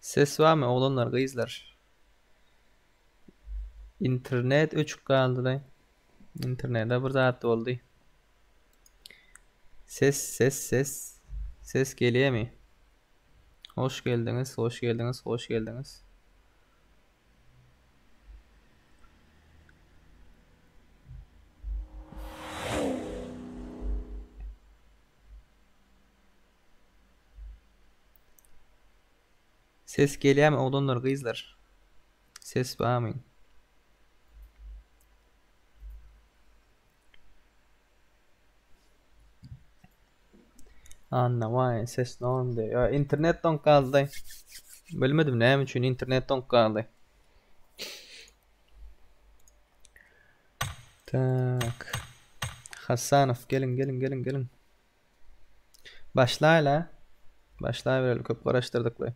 Ses barmy oglanlar gyzlar. Internet öçük galdylaý. Internete bir zat boldy. Ses ses ses. Ses gelýärmi? Hoş geldiňiz, hoş geldiňiz, hoş geldiňiz. Ses gelýämi oglanlar gyzlar ses bamy. Anna why ses norm de ya internet donk galdy. Bilmedim näme üçin internet donk galdy. Tak. Hasanow gelin gelin gelin gelin. Başlaýla. Başlaýbereli köp garaşdyrdyk we.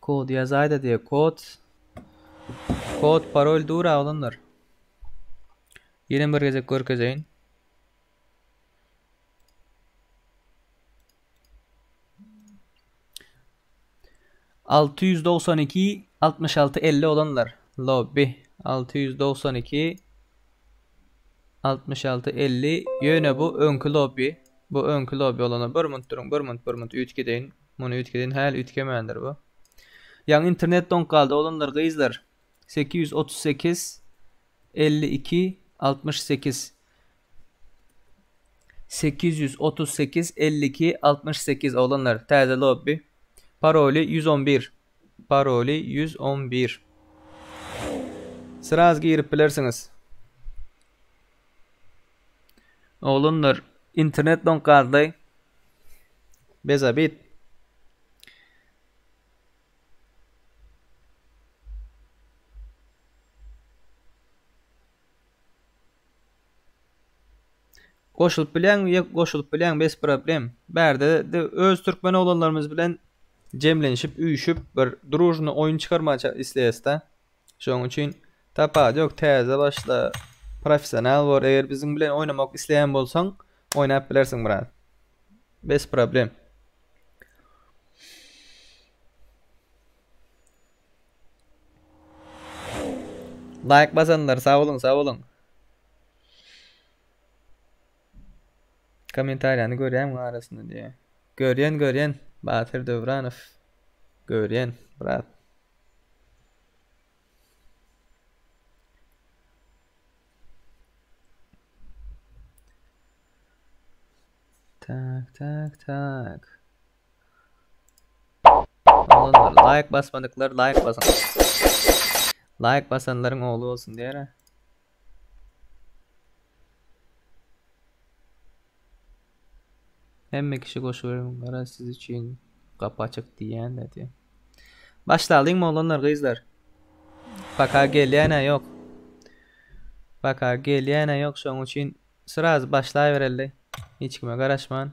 Kod ýazaýda diýe kod. Kod parol dur aglanlar. Ýene bir gezek görkezeýin. Alty ýüz dogsan iki, altmyş alty, elli olanlar. Lobby. Alty ýüz dogsan iki, altmyş alty, elli. Ýöne bu öňki lobby. Bu öňki lobby olana bir munt duruň, bir munt, bir munt üýtgedeýin. Muny üýtgedeýin, häli üýtgemändir bu. Ýaňy internet doňup galdy, oglanlar, gyzlar. Sekiz ýüz otuz sekiz, elli iki, altmyş sekiz. Sekiz ýüz otuz sekiz elli iki altmyş sekiz oglanlar täze lobby paroly ýüz on bir paroly ýüz on bir sraz girip bilersiňiz oglanlar internet doňk gazlaý bez abit Goşulyp bileň we goşulyp bileň bes problem. Bärde de öz türkmen oglanlarymyz bilen jemlenişip üýşüp bir družny oýun çykarmaga isleýäsda. Şoň üçin tapat ýok täze başla professional bor eger biziň bilen oýnamak isleýän bolsaň oýnap bilersiň brat. Bes problem. Laýk basanlar sag boluň sag boluň. Kommentariýany görýäňmi arasynda diýýä. Görýän görýän Batyr Döwranow. Görýän brat. Tak tak tak. Laýk basmadyklar laýk basyň. Laýk basanlaryň ogly bolsun diýere. Hemme kişi goşuberin gara siz üçin gapy açyk diýýän diýdi. Başlalyň oglanlar gyzlar. Paka gelýäne ýok. Paka gelýäne ýok şoň üçin sraz başlaýbereli. Hiç kime garaşman.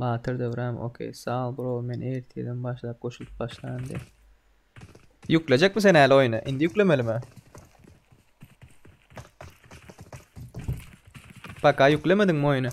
Batyr Döwran ok saol bro men ertirden başlap goşulyp başlaýyn de. Ýüklejekmi sen äli oýny? Indi ýüklemelimi? Paka ýüklemediňmi oýny?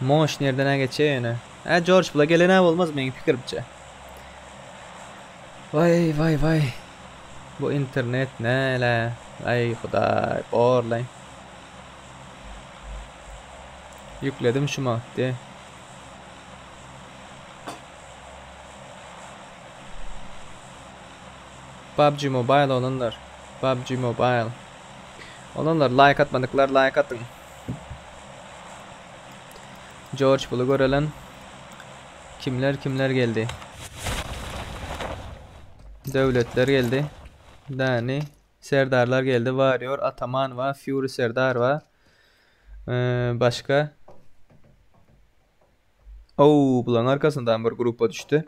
Moş nerdenä geçýär ýöne? Hä Jorj bula gelenä bolmaz meň pikirimçe. Waý waý waý. Bu internet näle? Aý hudaý, borlaý. Ýükledim şu mahatdy. PUBG Mobile olanlar. PUBG Mobile. Olanlar laýk atmadyklar laýk atyň. Jorj buly görelen kimler kimler geldi. Döwletler geldi. Dani Serdarlar geldi. Warrior Ataman we Fury Serdar we başga Oo, bulaň arkasyndan bir grupa düşdi.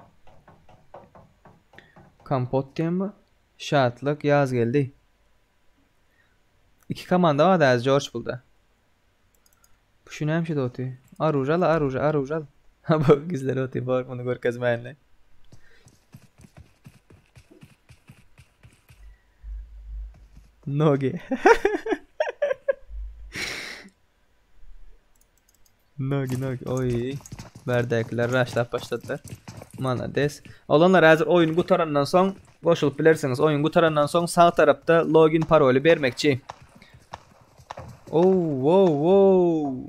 Kompot diýenmi? Şatlyk ýaz geldi. Iki komanda bar däz Jorj bulda. Bu şu näme şeýdip otyr? Arujal, aruja, arujal. Ha bu gizlenip otyr, bor muny görkezmäýinler. Nogi. Mögi mögi oý. Bärdäkiler raşlap başladylar. Malades. Oglanlar häzir oýun gutarandan soň goşulyp bilersiňiz. Oýun gutarandan soň sag tarapda login paroly bermekçi. Ow, wow, wow.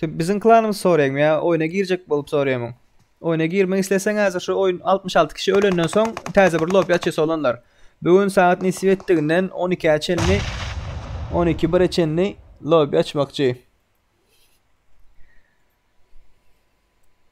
Sen biziň klanymyzy soraýaňmy ýa oýna girjek bolup soraýamyň? Oýna girmek isleseň häzir şu oýun 66 kişi ölenden soň täze bir lobby açýar solanlar. Bu gün sagat nisip etdiginden 12-ä çenli 12 1-e çenli lobby açmakçy.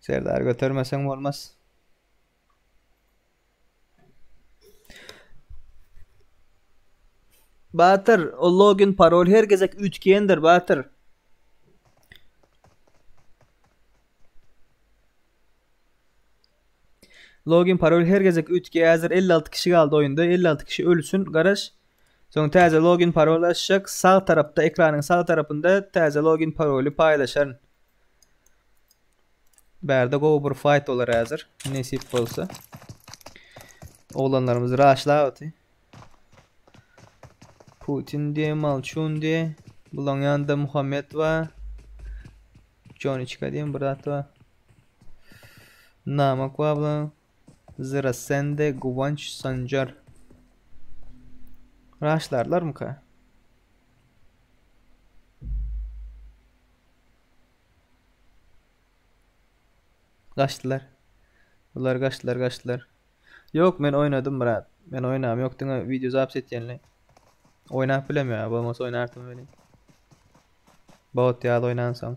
Serdar götermeseň bolmaz. Batyr, o login parol her gezek üýtgeýändir, Batyr. Login parol her gezek üýtgeýär. Häzir 56 kişi galdy oýunda. 56 kişi ölsün, garaş. Soň täze login parol açjak. Sag tarapda, ekranyň sag tarapynda täze login paroly paýlaşaryn. Bärde gowy bir fight bolar häzir. Nesip bolsa. Oglanlarymyz raşlaýapdy. Putin diye, Malçun diye. Bulaň ýanynda Muhammed bar. Joniçka diýen bir zat bar. Namak bar bulaň. Zira sende guwanç sanjar. Raşlarlarmyka? Gaçdylar. Bular gaçdylar, gaçdylar. Yok men oynadım Murat. Men oynam yok diňe video zapis etýänle. Oynap bilem ya. Bolmasa oynartym öyle. Bot ýaly oynan soň.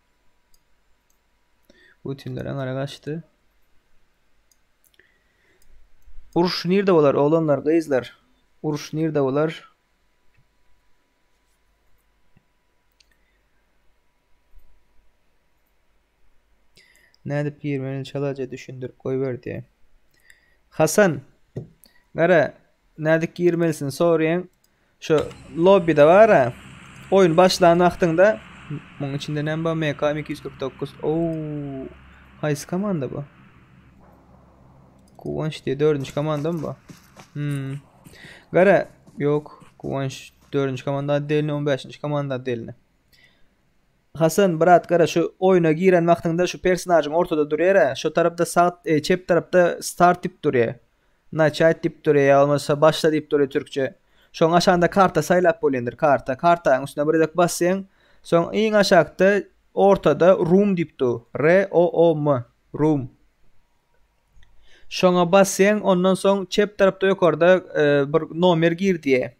Putinler aňara gaçdy. Uruş nirde bolar oglanlar, gyzlar? Uruş nirde bolar? Nädip girmeli çalaja düşündirip goýber diýe. Hasan. Gara, nädip girmelisin soraýan. Şu lobbide bara oyun başlan wagtyňda muň içinde näme bar MK 249 ouu haýsy komanda bu Kuwanç diye 4-nji komanda mı bu hmm. Gara yok Kuwanç 4-nji komanda delini 15-nji komanda delini Hasan brat gara şu oyuna giren wagtyňda şu personajyň ortada durýar-a, şu tarapda sag e, çep tarapda start dip durýar. Naçat diýip dur ýa bolmasa başla diýip dur türkçe. Şoň aşagynda karta saýlap bolýandyr karta. Kartanyň üstüne bir gezek basýaň. Soň iň aşakda ortada room diýip dur. ROOM. Room. Şoňa basýaň ondan soň çep tarapda ýokarda bir nomer gir diýe.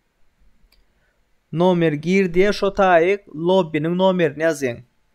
Nomer gir diýe şo taýy lobbiniň nomerini ýazýaň.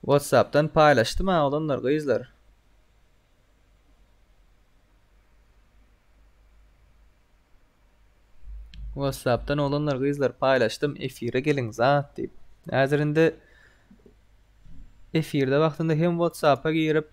Whatsappdan paýlaşdym oglanlar gyzlar. Whatsappdan oglanlar gyzlar paýlaşdym efire geliň zat diýip. Häzir indi efirde wagtynda hem Whatsapp'a girip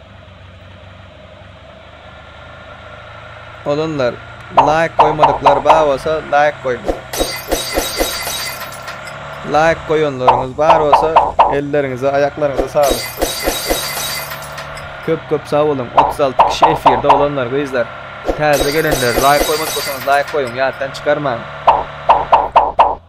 Olanlar laýk goýmadyklar bar bolsa laýk goýuň. Laýk goýanlaryňyz bar bolsa elleriňize aýaklaryňyza saglyk. Köp köp sag boluň 36 kişi efirde olanlar gyzlar. Täze gelenler laýk goýmadyk bolsaňyz laýk goýuň ýatdan çykarmaň.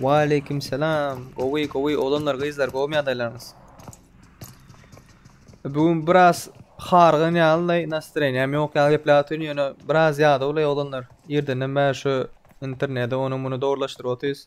Waleýkim salam. Gowy, gowy oglanlar, gyzlar, gowumy ýagdaýlaryňyz? Bu gün biraz hargyn ýalylaý, nastroýeniýam ýok ýaly gepläp otyryn, ýöne biraz ýadawlaý oglanlar. Irdenden bäri şu interneti, ony muny dogrulaşdyryp otyrys.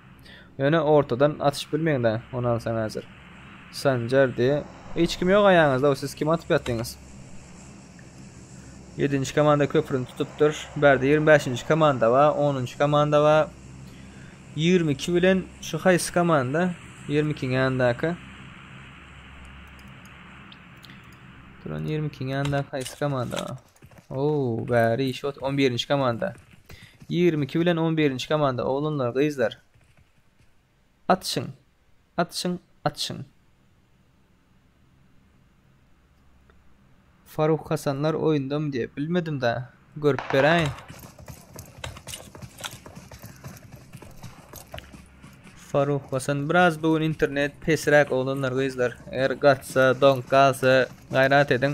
Ýöne ortadan atyşyp bilmeňdä, onam sen häzir. Sanjar diýe, hiç kim ýok aýaňyzda-ow, siz kime atyp ýatdyňyz? Ýedinji komanda köprini tutupdyr. Bärde ýigrimi bäşinji komanda bar, onunjy komanda bar. Ýigrimi iki bilen şu haýsy komanda? Ýigrimi ikiň ýanyndaky. Duran ýigrimi ikiň ýanyndaky haýsy komanda? Oow bäri şot on birinji komanda. Ýigrimi iki bilen on birinji komanda oglanlar gyzlar. Atşyň. Atşyň. Atşyň. Faruk Hasanlar oýundamy diýip bilmedim da görüp beräýin. Faruk Hasan biraz bugün internet pesräk oglanlar gyzlar. Eger gatsa, doňk galsa gayrat ediň.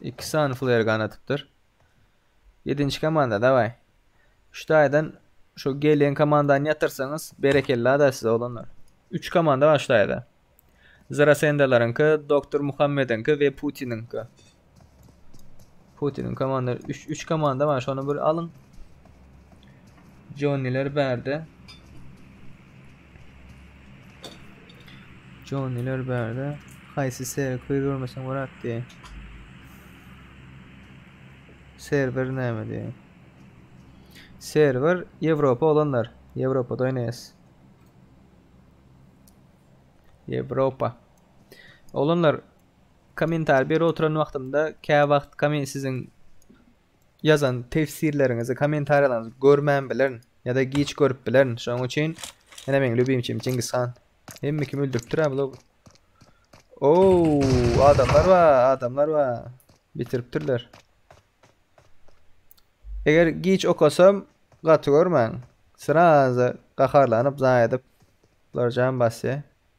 Iki sany flair gan atypdyr. Yedinci komanda davay. Üç taýdan şu gelen komandany ýatyrsaňyz berekella da size oglanlar. Üç komanda bar şu taýda. Zrasendalaryňky, Doktor Muhammediňki we Putiniňki. Putiniň komanda üç üç komanda bar şony bir alyň. Jonniler bärde. Joniler bärde. Haýsy seri köýr görmeseň bolat diýýä. Serwer näme diýýä. Serwer Ýewropa olanlar. Ýewropada oýnaýas. Ýewropa. Olanlar kommentar bir oturan wagtymda kä wagt kommen siziň Ýazan tefsirleriňizi kommentariýalaryňyzy görmän bilerin ýada giç görüp bilerin şoň üçin ene meň lübimçim Çingiz han hemme kim öldüripdirä bula Oow adamlar ba adamlar ba bitiripdirler Eger giç okasam gaty görmäň srazy gaharlanyp zaý edip bular jan basýa.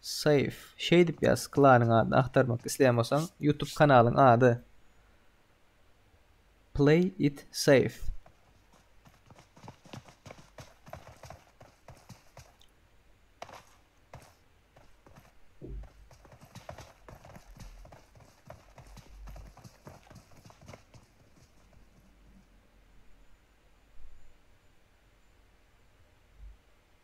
Save şeýdip ýaz klanyň adyny agtarmak isleýän bolsaň youtube kanalyň ady play it save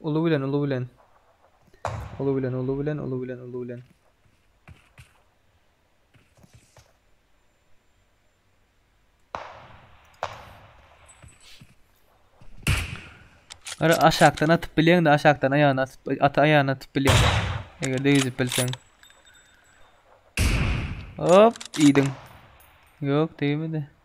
Ulu bilen, ulu bilen. Ulu bilen, ulu bilen, ulu bilen, ulu bilen. Ara aşakdan atyp bilen de aşakdan ayağına atıp, at ayağına atıp bilen. Eger de yüzüp bilsen. Hop, iyiydin. Yok, değmedi.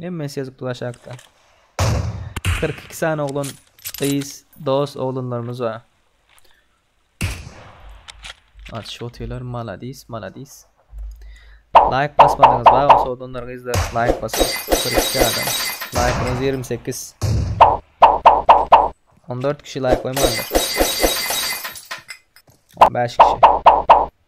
Hemmesi ýazypdyr aşakda. Kyrk iki sany oglan, gyz, dost oglanlarymyz bar. Aç otylar maladis maladis. Laýk basmadyňyz ba o sodanlar gyzlar laýk basyň. 42 adam. Laýkyňyz 28. 14 kişi laýk goýmandyr. 15 kişi.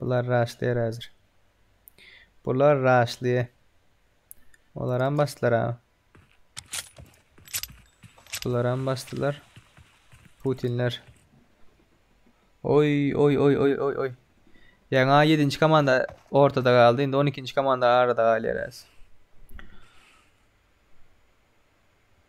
Bular raşlaýar häzir. Bular raşlaýar. Olaram basdylar ha. Bularam basdylar. Putinler. Oy oy oy oy oy oy. Ýaňa 7-nji komanda ortada galdy. Indi 12-nji komanda arada galýar häzir.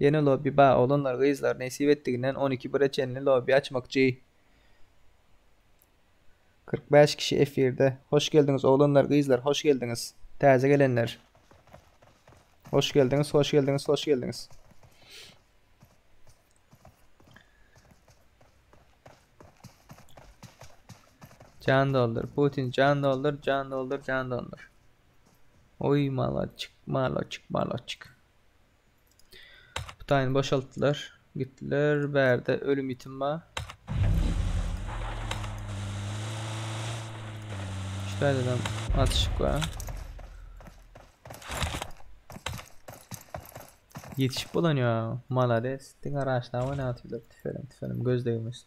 Ýene lobby ba oglanlar gyzlar nesip etdiginden on iki bire çenli lobby açmakçy. Kyrk bäş kişi efirde. Hoş geldiňiz oglanlar gyzlar hoş geldiňiz. Täze gelenler. Hoş geldiňiz hoş geldiňiz hoş geldiňiz. Can doldur Putin can doldur can doldur can doldur. Oy malaçyk malaçyk malaçyk. Bu taýyny boşaltdylar. Gitdiler. Bärde ölüm ýitim bar. Şu taýdan atyşyk bar. Yetişip bolan ya. Malades. Diňe araçla oynatýlar. Tüfelim tüfelim. Göz degmesin.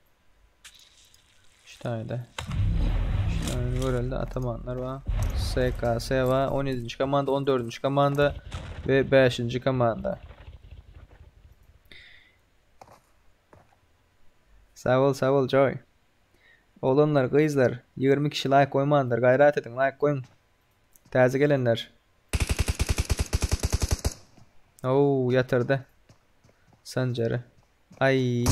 Ştaýda. Ştaýda görelde atamanlar bar. SKS bar. 17-nji komanda, 14-nji komanda we 5-nji komanda. Sag bol, sag bol Joy. Oglanlar, gyzlar, 20 kişi laýk goýmandyr. Gaýrat ediň, laýk goýuň. Täze gelenler. Oo, yatırdı. Sancarı. Ay.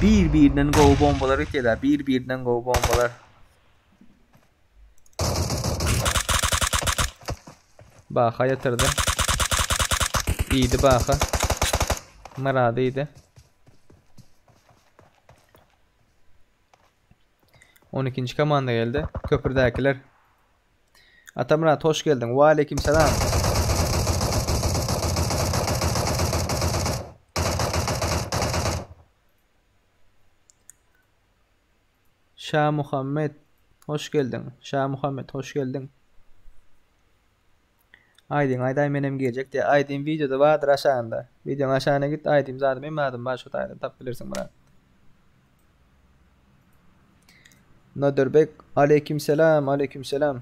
Bir birden go bombalar iteler. Bir birden go bombalar. Baha ýatyrdy. Iýdi Baha. Myrady iýdi. 12-nji komanda geldi. Köpürdäkiler. Atamyrat hoş geldiň. Wa aleýkim salam. Şamuhammet hoş geldiň Şamuhammet hoş geldiň Aýdym aýdaý menem geljek diýä aýdym wideoda bardyr aşagynda wideoň aşagyna git aýdym zady mem adym bar şo taýdan tapyp bilersiň brat Nodirbek aleýkim selam aleýkim selam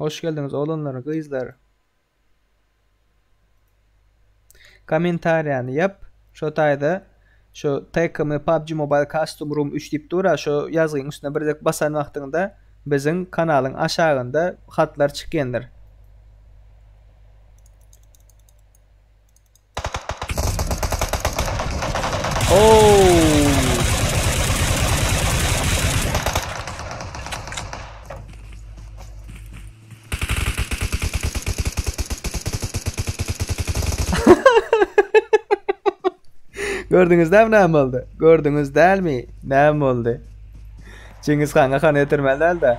Hoş geldiňiz oglanlar, gyzlar. Kommentariýany ýap. Şo taýda şu TKM PUBG Mobile Custom Room 3 diýip dur-a, şo ýazgyň üstüne bir dek basan wagtyňda biziň kanalyň aşagynda hatlar çykýandyr. Gördüňiz dämi näme boldy? Gördüňiz dälmi? Näme boldy? Çingiz hanga han etirmeli däl-de.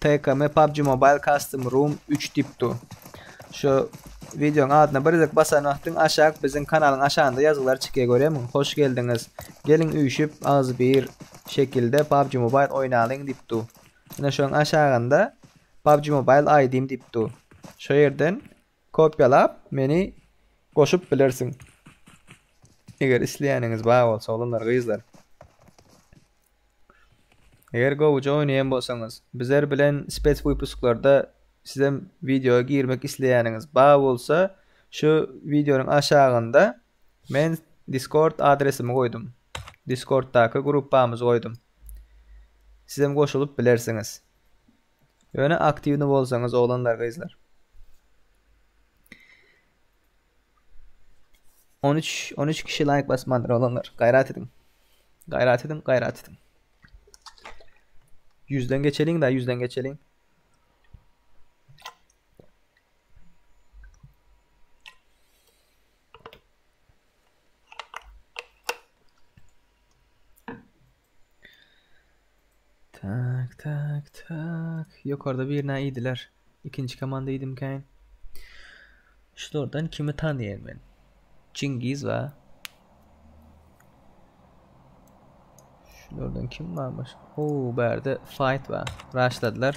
TKM PUBG Mobile Custom Room üç dipdu. Şu videoň adyna birzek basan wagtyň aşak biziň kanalyň aşagynda ýazgylar çykýa görýämiň hoş geldiňiz. Geliň üýşüp agzybir şekilde PUBG Mobile oýnalyň dipdu. Ine şoň aşagynda PUBG Mobile aýdym dipdu. Şo ýerden Kopýalap meni goşup bilersiň. Eger isleýäniňiz bar bolsa oglanlar gyzlar. Eger gowuja oýnaýan bolsaňyz bizler bilen spes wypusklarda sizem wideoa girmek isleýäniňiz bar bolsa şu wideonyň aşagynda men diskord adresimi goýdum. Diskorddaky gruppamyzy goýdum. Sizem goşulyp bilersiňiz. Ýöne aktiwny bolsaňyz oglanlar gyzlar. On üç, on üç kişi laýk basmandyr oglanlar. Gaýrat ediň. Gaýrat ediň, gaýrat ediň. Ýüzden geçeliň da, ýüzden geçeliň. Tak tak tak. Ýokarda birine iýdiler. Ikinji komanda iýdimkäň. Şulardan kimi tanýan men? Çingiz we Şulardan kim barmyş? Oo, bärde fight we Raşladylar.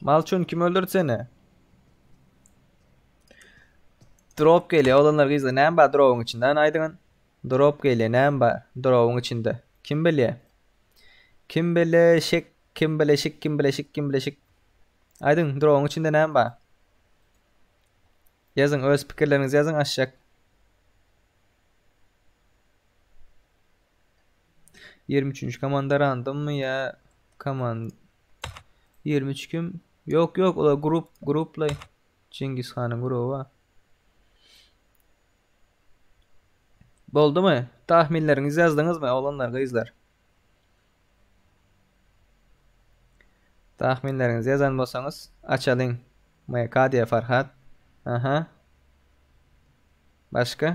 Malçun kim öldürdi seni? Drop geliyor. Olanlar gizli. Näme bar drop'un içinde? Ana aýdyň. Drop geliyor. Näme bar drop'un içinde? Kim bilýär? Kim bileşik? Kim bileşik? Kim bileşik? Kim bileşik? Aýdyň, drop'un içinde näme bar? Ýazyň, öz pikirleriňizi ýazyň aşak. Ýigrimi üçünji komanda randommy ýa koman ýigrimi üç kim? Ýok, ýok, olar grup, gruplaý. Çingiz hanyň gruby bar. Boldumy? Tahminleriňizi ýazdyňyzmy oglanlar, gyzlar? Tahminleriňizi ýazan bolsaňyz, açalyň. MK diýýär Farhat. Aha. Başga?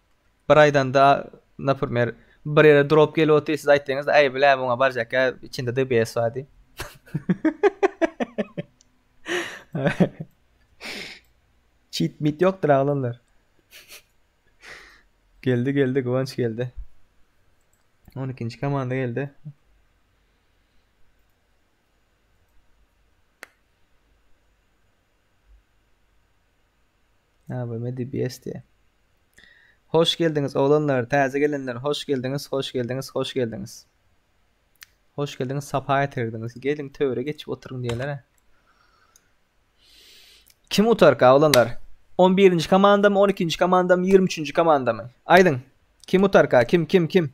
Bir aýdanda naprimýer bir ýere drop gelip otyr siz aýtdyňyz aý bile muňa barjak ýa içinde dbs bar diýip. Çit mit ýokdur aglanlar. geldi geldi Guwanç geldi. 12-nji komanda geldi. Abime DBS diye. Hoş geldiniz oğlanlar, taze gelenler, hoş geldiniz, hoş geldiniz, hoş geldiniz. Hoş geldiniz, sapa getirdiniz. Gelin töre geçip oturun diyeler. Kim utar ka oğlanlar? 11. komanda mı, 12. komanda mı, 23. komanda mı? Aydın. Kim utar ka? Kim, kim, kim?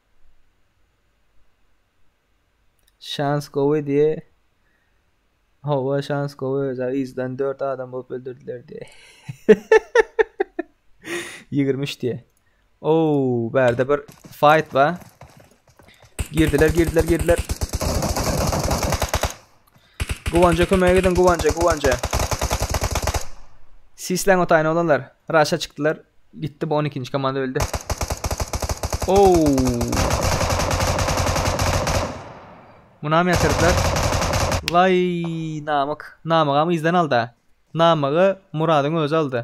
Şans gowy diye. Hava şans gowy öza izden 4 adam bolup öldürdüler diye. 23 diye. Oo, berde bir fight var. Girdiler, girdiler, girdiler. Guwanja kömege gidiň Guwanja Guwanja. Sisleň otaýyn oglanlar. Raşa çykdylar. Gitdi bu on ikinji komanda öldi. Ow. Munam ýatyrdylar. Waý namyk. Namygam yzdan alda. Namygy Muradyň özi aldy.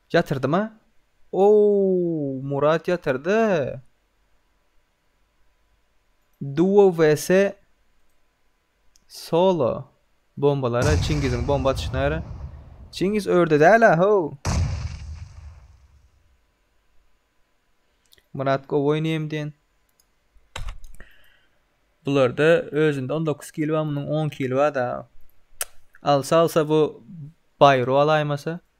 Ýatyrdyma? Oow Murat ýatyrdy. Duo vs Solo bombalara Çingiziň bomba atyşyna gara. Çingiz örde däl-ä how. Murat gowy oýnaýam diýen. Bularda özünde 19 kili bar, munyň 10 kili bar-da. Alsa alsa bu Bayro alaýmasa.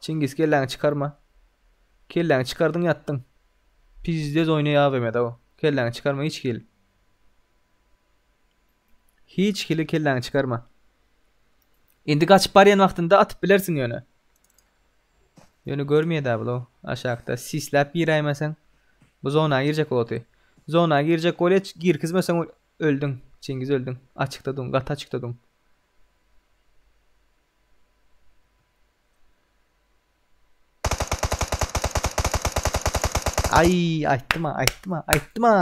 Çingiz kelläňi çykarma. Kelläňi çykardyň ýatdyň. Pizdez oýnaýa agymeda o. Kelläňi çykarma hiç hili. Hiç hili kelläňi çykarma. Indi gaçyp barýan wagtynda atyp bilersiň ýöne. Ýöne görmeýär-dä bul o. Aşakda sisläp giräýmeseň. Bu zona girjek oty. Zona girjek bolýa, girkizmeseň Öldüň, Çingiz öldüň. Açykda duň, gaty açykda duň. Aý, aýtdym-a, aýtdym-a, aýtdym-a.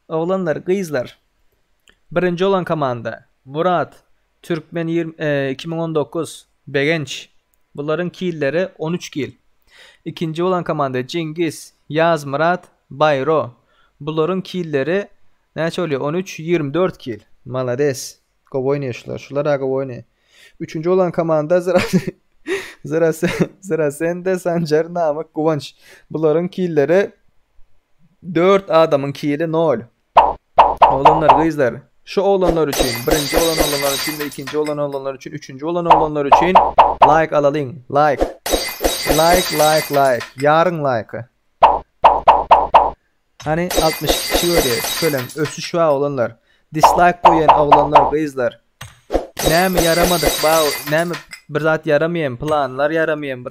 Oglanlar, gyzlar. Birinji bolan komanda. Murat, Türkmen ýigrimi iki müň on dokuz, Begenç, bularyň killeri on üç kil. Ikinji bolan komanda Jeňgiz, Ýazmyrat, Baýro, bularyň killeri näçe bolýar on üç, ýigrimi dört kil. Malades, gowy oýnaýşlar, şular-a gowy oýnaýar. Üçünji bolan komanda Zyrasende, Sanjar, Namyk, Guwanç, bularyň killeri dört adamyň kili nol. Oglanlar gyzlar şu oglanlar üçin birinji bolan oglanlar üçin we ikinji bolan oglanlar üçin üçünji bolan oglanlar üçin laýk alalyň laýk laýk laýk laýk ýaryň laýka Hany 62 kişi görýär şölem ösüş wa oglanlar dislaýk goýan oglanlar gyzlar näme ýaramadyk ba näme bir zat ýaramaýam planlar ýaramaýam